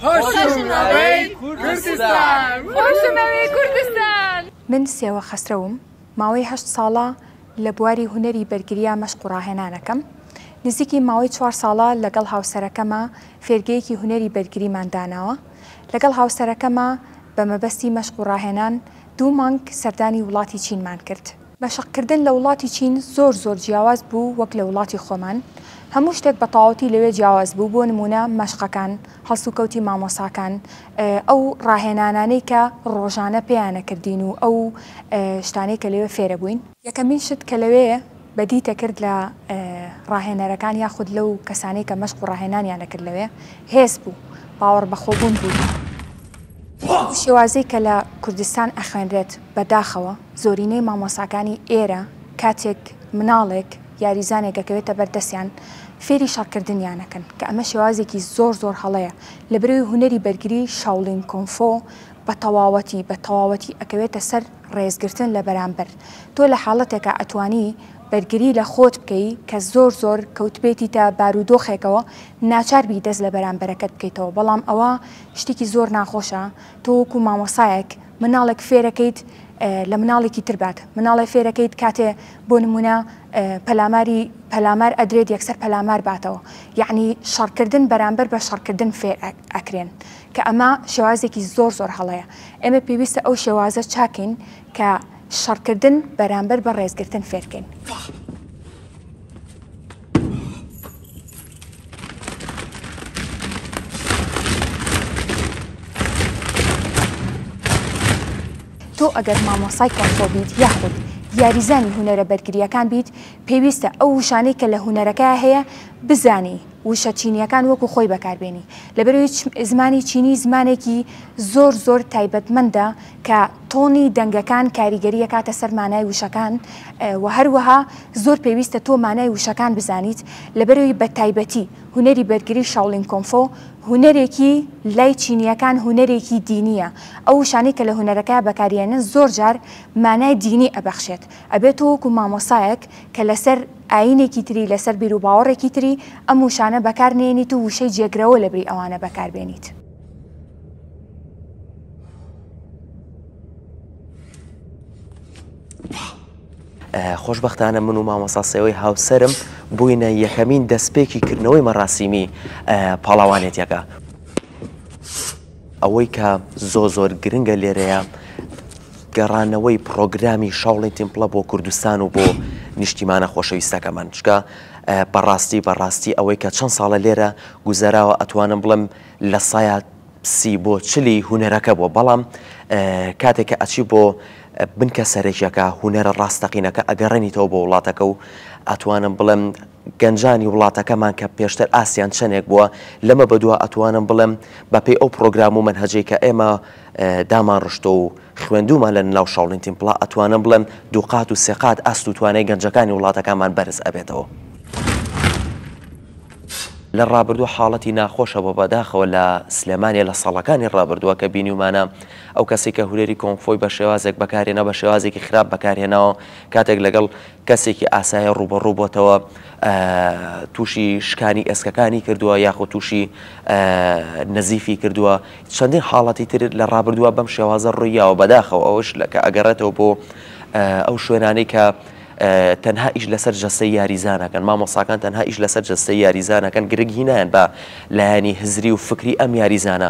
خۆشمئەوێی کوردستان. من سێوە خەسرەوم، ماوەی هەشت ساڵە لە بواری هونەری بەرگرییە مەشق و ڕاهێنانەکەم. نزیکی ماوەی چوار ساڵە لەگەڵ هاوسەرەکەمە فێرگەیەکی هونەری بەرگریمان داناوە. لەگەڵ هاوسەرەکەمە بە مەبەستی مەشق و ڕاهێنان دوو مانگ سەردانی وڵاتی چینمان کرد. مەشق کردن لە وڵاتی چین زۆر زۆر جیاواز بوو وەک لە وڵاتی خۆمان هەموو شتێک بە تەواوەتی لەوێ جیاواز بوو بۆ نموونە مەشقەکان هەڵسوکەوتی مامۆساکان ئەو ڕاهێنانانەی کە ڕۆژانە پێیان ئەکردین و ئەو شتانەی کە لەوێ فێر ئەبووین. یەکەمین شت کە لەوێ بە دیت ئەکرد لە ڕاهێنەرەکان یاخود لەو کەسانەی کە مەشق و ڕاهێنانیان ئەکرد لەوێ هێز بوو باوەڕ بە خۆبوون بوو بەو شێوازەی کە لە کوردستان ئەخوێنرێت بە داخەوە. زۆرینەی مامۆستاکانی ئێرە کاتێک مناڵێک، یاریزانێک دەکەوێتە بەر دەستیان فێری شەڕکردنیان ئەکەن کە ئەمە شێوازێکی زۆر زۆر هەڵەیە لە برەوی هونەری بەرگری شاولین کونفۆ بە تەواوەتی بە تەواوەتی ئەکەوێتە سەر ڕێزگرتن لە بەرامبەر تۆ لە حاڵەتێکا ئەتوانی بەرگری لە خۆت بکەی کە زۆر زۆر کەوتبێتیتە بارودۆخێکەوە ناچار بی دەست لە بەرامبەرەکەت بکەیتەوە بەڵام ئەوە شتێکی زۆر ناخۆشە تۆ وەکو مامۆستایەک مناڵێک فێرەکەیت لە مناڵێکی تر بات مناڵێ فێرەکەیت کاتێ بۆ نمونە پەلاماری پەلامار ئەدرێت یەکسەر پەلامار باتەوە یعنی شەڕکردن بەرامبەر بە شەڕکردن فێر ئەکرێن کە ئەمە شێوازێکی زۆر زۆر هەڵەیە ئێمە پێویستە ئەو شێوازە چاکەین کە شەڕکردن بەرامبەر بە ڕێزگرتن فێرکەین. تۆ ئەگەر مامۆسای کۆنفۆ بیت یاخود یاریزانی هوەرە بەرگریەکان بیت پێویستە ئەو وشانەی کە لە هوەرەکە هەیە بزانی وشە چینیەکان وەکو خۆی بەکاربیێنی لەبەروی زمانی چینی زمانێکی زۆر زۆر تایبەتمەندە کە تۆنی دەنگەکان کاریگەری ئەکاتە سەر مانای وشەکان و هەروەها زۆر پێویستە تۆ مانای وشەکان بزانیت لەبەرەوی بە تایبەتی هونەری بەرگری شاولین کۆنفۆ هونەرێکی لای چینیەکان هونەرێکی دینیە ئەو وشانەی کە لە هونەرەکەیا بەکاری ئەنن زۆر جار مانای دینی ئەبەخشێت ئەبێت تۆ وەکو مامۆسایەک کە لەسەر ئاینێکی تری لەسەر بیروباوەڕێکی تری ئەم وشانە بەکار نێنیت و وشەی جێگرەوە لەبری ئەوانە بەکار بێنیت. خۆشببختانە من و مامەساسەوەی هاوسرم بووینە یەکەمین دەستپێکی کردنەوەی مەڕاستیمی پاڵاوانێتەکە ئەوەی کە زۆ زۆر گرنگە لێرەیە گەڕانەوەی پرۆگرامی شاڵی تیمپڵە بۆ کوردستان و بۆ نیشتیمانە خۆشەویستەکەمان چکە بەڕاستی بەڕاستی ئەوەی کە چەند ساڵە لێرە گوزەراوە ئەتوانم بڵم لە سایە سی بۆ چلی هونەرەکە بووە بەڵام کاتێک کە ئەچی بۆ بنکە سەرەکیەکە هونەرە ڕاستەقینەکە ئەگەڕێنیتەوە بۆ وڵاتەکە و ئەتوانم بڵێم گەنجانی وڵاتەکەمان کە پێشتر ئاسیان چەندێک بووە لەمە بەدووە ئەتوانم بڵێم بەپی ئەو پرۆگرام و منهجەی کە ئێمە دامان ڕشتۆ و خوێندومان لە ناو شاڵین تیمپڵا ئەتوانم بڵێم دووقات و سێقات ئاست و توانای گەنجەکانی وڵاتەکانمان بەرز ئەبێتەوە. لە ڕابردووە حاڵەتی ناخۆشە بۆ بەداخەوە لە سلێمانیە لە ساڵەکانی ڕابردووە کە بینیومانە ئەو کەسی کە هورێری کۆنگفۆی بە شێوازێک بەکارهێنا بە شێوازێکی خراپ بەکارهێناوە کاتێک لەگەڵ کەسێکی ئاسایە ڕووبەڕوو بۆتەوە تووشی شکانی ئێسکەکانی کردووە یاخود تووشی نەزیفی کردووە چەندین حاڵەتی تر لە ڕابردووە بەم شێوازە ڕوویاوە بەداخەوە ئەوش لەکە ئەگەڕێتەوە بۆ ئەو شوێنانی کە تەنها ئیش لەسەر جەستەی یاریزان ئەکەن، مامۆستاکان تەنها ئیش لەسەر جەستەی یاریزان ئەکەن، گرنگ هی نایەن بە لایەنی هزری و فکری ئەم یاریزانە.